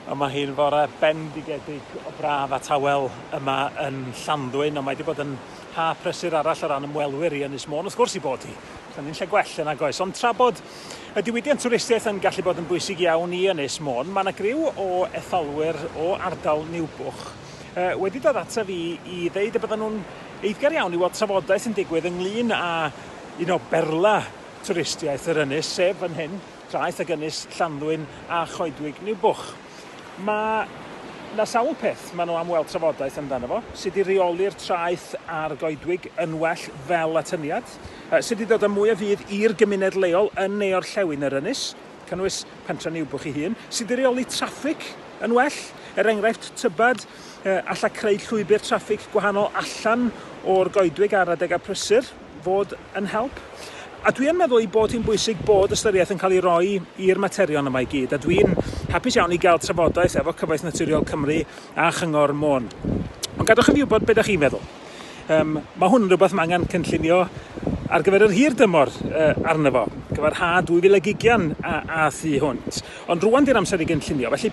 Yma hi'n fore bendigedig o braf a tawel yma yn Llanddwyn, ond mae wedi bod yn ha prysur arall o ran ymwelwyr i Ynys Môn, wrth gwrs i bod hi. Dyna ni'n lle gwell yn agos. Ond tra bod y diwydiant twristiaeth yn gallu bod yn bwysig iawn i Ynys Môn, mae yna griw o etholwyr o ardal Niwbwch uh, wedi dod ata fi i ddeud y bydden nhw'n eiddgar iawn i weld trafodaeth yn digwydd ynglyn â un o berla twristiaeth yr ynys, sef fan hyn. Traeth ac ynys Llanddwyn a choedwig Niwbwch. Mae 'na sawl peth maen nhw am weld trafodaeth amdano fo, sut i reoli'r traeth a'r goedwig yn well fel atyniad, sut i ddod â mwy o fudd i'r gymuned leol yn ne orllewin yr ynys, cynnwys pentre Niwbwch ei hun, sut i reoli traffig yn well, er enghraifft tybed alla creu llwybr traffig gwahanol allan o'r goedwig ar adegau prysur. fod yn help. A dwi yn meddwl ei bod hi'n bwysig bod ystyriaeth yn cael ei roi i'r materion yma i gyd, a dwi'n hapus iawn i gael trafodaeth efo Cyfoeth Naturiol Cymru a Chyngor Môn. Ond gadwch i fi wybod beth ydych chi'n meddwl. Um, mae hwn yn rhywbeth mae angen cynllunio ar gyfer yr hir dymor uh, arno fo, gyfer ha 2020 a, a thu hwnt. Ond rwan di'r amser i gynllunio, felly